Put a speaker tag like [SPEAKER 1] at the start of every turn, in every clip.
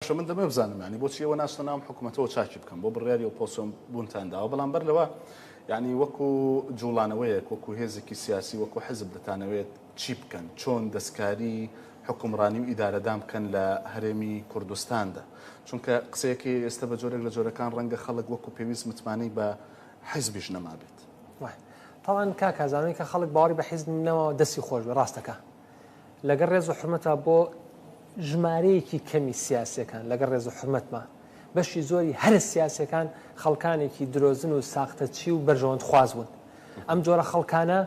[SPEAKER 1] باشە من دەمەوێ بزانم یانی بۆچی ئێوە ناچنە ناوم حکومەتەوە چاکی بکەم بۆ بڕیاری ئۆپۆسۆن بوونتان داوە بەڵام بەر لەوە یعنی وەکو جوڵانەوەیەک وەکو هێزێکی سیاسی وەکو حزب دەتانەوێت چی بکەن چۆن دەستکاری حکومڕانی و ئیدارەدان بکەن لە هەرێمی کوردستاندا چونکە قسەیەکی ئێستا بە جۆرێک لە جۆرەکان ڕەنگە خەڵک وەکو پێویست متمانەی بە حزبیش نەمابێت. طبعا
[SPEAKER 2] کاک هەزانەوەی کە خەڵک باوەڕی بە حیزب نەماوە دەستی خۆش بێ ڕاستەکە لەگەڵ ڕێز و حرمەتە بۆ ژمارەیەکی کەمی سیاسەکان لەگەڵ ڕێز و حرمەتمە بەشی زۆری هەرە سیاسەکان خەڵکانێکی درۆزن و ساختەچی و بەرژەوەند خوازبوون ئەم جۆرە خەڵکانە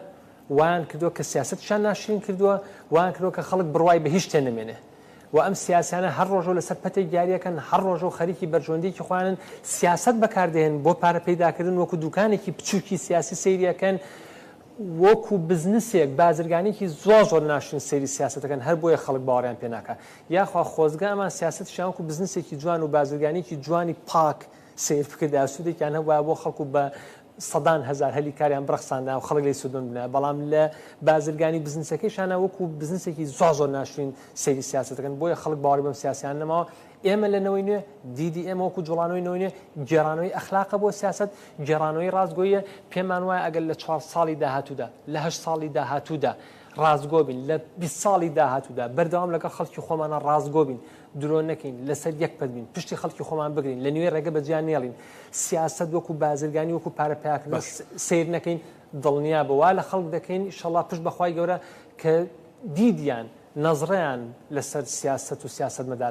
[SPEAKER 2] وان کردو کە سیاست شان ناشرین کردووە وان کرۆ کە خەڵک بڕوای بە هیچ تێ نمێنێ و ئەم سیاسیانە هەر ڕۆژۆ لەسەر پەتی گاریەکەن هەر ڕۆژۆ خەریکی بەرژۆندێکی خوانن سیاست بەکاردێن بۆ پارە پیداکردن وەکو دوکانێکی بچووکی سیاسی سریەکەن وەکو بزنسێک بازرگانێکی زۆر زۆر ناشرین سەیری سیاسەتەکەن هەر بۆیە خەڵک باوەڕیان پێ ناکا یاخوا خۆزگە ئەمان سیاسەتیشیان وەکو بزنسێکی جوان و بازرگانێکی جوانی پاک سەیر بکردایە سودێکیان هەبوایە بۆ خەڵک و بە سەدان هەزار هەلی کاریان بڕەخساندایە و خەڵک لێی سودمەند بنایە بەڵام لە بازرگانی و بزنسەکەیشانا وەکو بزنسێکی زۆر زۆر ناشرین سەیری سیاسەتەکەن بۆیە خەڵک باوەڕی بەم سیاسەیان نەماوە ئێمە لە نەوەی نوێ، دیدی ئێمە وەکو جوڵانەوەی نەوەی نوێ، گێڕانەوەی ئەخلاقە بۆ سیاسەت، گێڕانەوەی ڕاستگۆییە، پێمان وایە ئەگەر لە چوار ساڵی داهاتوودا، لە هەشت ساڵی داهاتوودا ڕاستگۆ بین، لە بیست ساڵی داهاتوودا بەردەوام لەگەڵ خەڵکی خۆمانا ڕاستگۆ بین، درۆ نەکەین، لەسەر یەک پەت بین، پشتی خەڵکی خۆمان بگرین، لە نوێی ڕێگە بە جیا نێڵین، سیاسەت وەکو بازرگانی، وەکو پارە پەیاکردن سەیر نەکەین، دڵنیابە وا لە خەڵک دەکەین، ئیشەڵڵا پشت بە خوای گەورە کە دیدیان، نەزرەیان لەسەر سیاسەت و سیاسەتمەداران.